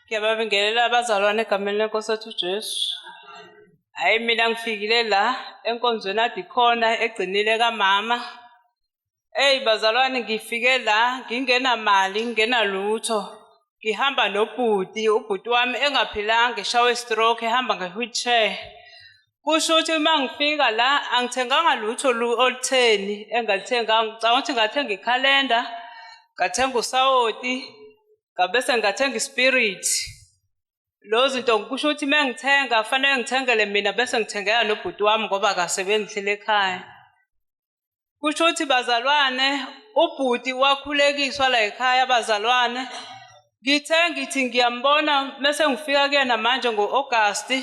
Ngiyababingelela abazalwane egameni lenkosi yethu uJesu. Hayi mina ngifikile la enkonzweni adikhona egcinile kamama. Ey bazalwane ngifike la ngingenamali ngingenalutho. Ngihamba nobhuti, ubhuti wami engaphilanga eshawe stroke ehamba nge-wheelchair. Kusho ukuthi uma ngifika la angithenganga lutho lu- olutheni engalithenganga. Ngicabanga ukuthi ngathenga ikhalenda, ngathenga usawoti, ngabese ngathenga ispirit lo zinto ngikusho ukuthi uma ngithenga fanele ngithengele mina bese ngithengela nobhuti wami ngoba akasebenzihlele ekhaya kusho ukuthi bazalwane ubhuti wakhulekiswa la ekhaya abazalwane ngithe ngithi ngiyambona mese ngifika kuyena manje ngo-agasti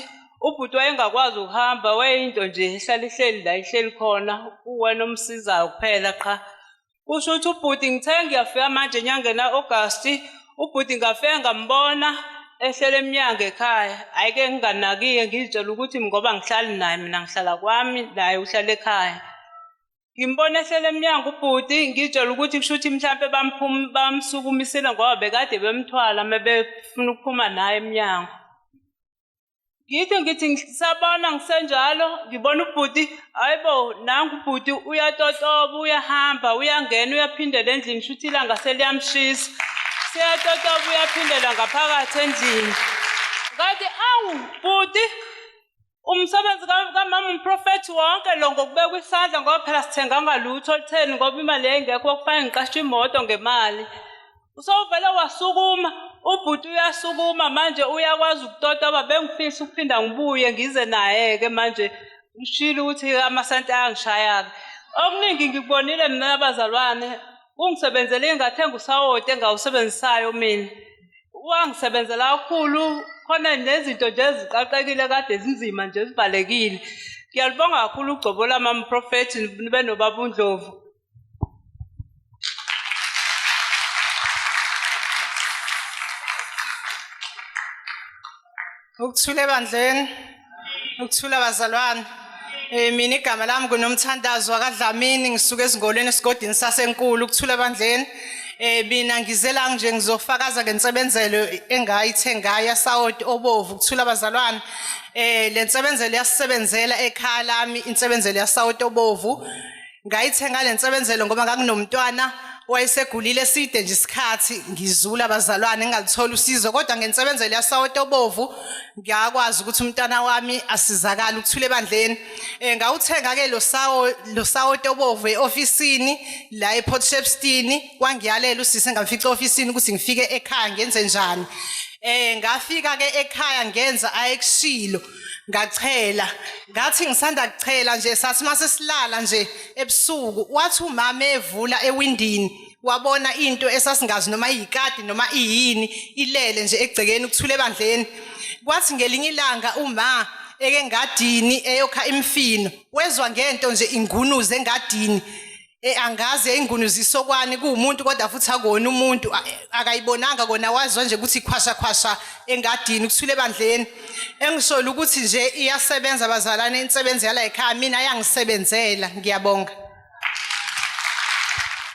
ubhuti wayengakwazi ukuhamba wayeyinto nje ehlala ihleli la ihleli khona uwena omsizayo kuphela qha kusho ukuthi ubhuti ngithe ngiyafika manje enyangeni ka-agasti ubhuti ngafike ngambona ehlele emnyango ekhaya hhayi ke nginganakike ngizitshela ukuthi ngoba ngihlali naye mina ngihlala kwami naye uhlala ekhaya ngimbona ehlele emnyango ubhuti ngizitshela ukuthi kusho ukuthi mhlawumpe bamsukumisile ngoba bekade bemthwala uma befuna ukuphuma naye emnyango ngithi ngithi ngisabona ngisenjalo ngibona ubhuti hayibo nangu ubhuti uyatotoba uyahamba uyangena uyaphindela endlini shuthi ilanga seliyamshisa siyatotoba uyaphindela ngaphakathi endlini ngathi awu bhuti umsebenzi kamama umprofethi wonke lo ngokubekwa isandla ngoba phela sithenganga lutho olutheni ngoba imali yayingekho okufanele ngiqashe imoto ngemali usovele wasukuma ubhuti uyasukuma manje uyakwazi ukutota uba bengifisa ukuphinda ngibuye ngize naye-ke manje ngishilo ukuthi amasenti ayangishaya-ke okuningi ngikubonile mina nabazalwane ungisebenzele ingathenga usawoti engawusebenzisayo mina wangisebenzela kakhulu khona nezinto nje eziqaqekile kade zinzima nje zivalekile ngiyalibonga kakhulu ugcobo lamamprofethi nibe nobaba undlovu Ukuthula ebandleni. Ukuthula bazalwane. Eh mina igama lami kunomthandazo wakadlamini ngisuka ezingolweni esigodini sasenkulu ukuthula ebandleni. Eh mina ngize la nje ngizofakaza ngensebenzelo engayithengayo yasawoti obovu ukuthula bazalwane. Eh lensebenzelo yasisebenzela ekhaya lami insebenzelo yasawoti obovu. ngayithenga le nsebenzelo ngoba nganginomntwana wayesegulile eside nje isikhathi ngizula abazalwane ngingalitholi usizo kodwa ngensebenzelo yasawoti obovu ngiyakwazi ukuthi umntana wami asizakale ukuthula ebandleni um ngawuthenga-ke lo sawoti obovu e-ofisini la eport shepstini wangiyalela usise ngamfica e-ofisini ukuthi ngifike ekhaya ngenze njani um ngafika-ke ekhaya ngenza ayekushilo ngachela ngathi ngisanda kuchela nje sathi mase silala nje ebusuku wathi umama evula ewindini wabona into esasingazi noma iyikati noma iyini ilele nje egcekeni ukuthule bandleni kwathi ngelinye ilanga uma eke ngadini eyokha imfino wezwa ngento nje ingunuze engadini Eh angazi yayingunu zisokwani kuumuntu kodwa futhi akona umuntu akayibonanga kona wazwa nje ukuthi ikhwasha khwasha engadini kuthule bandleni engisolo ukuthi nje iyasebenza bazalane insebenzi yala ekhaya mina yangisebenzela ngiyabonga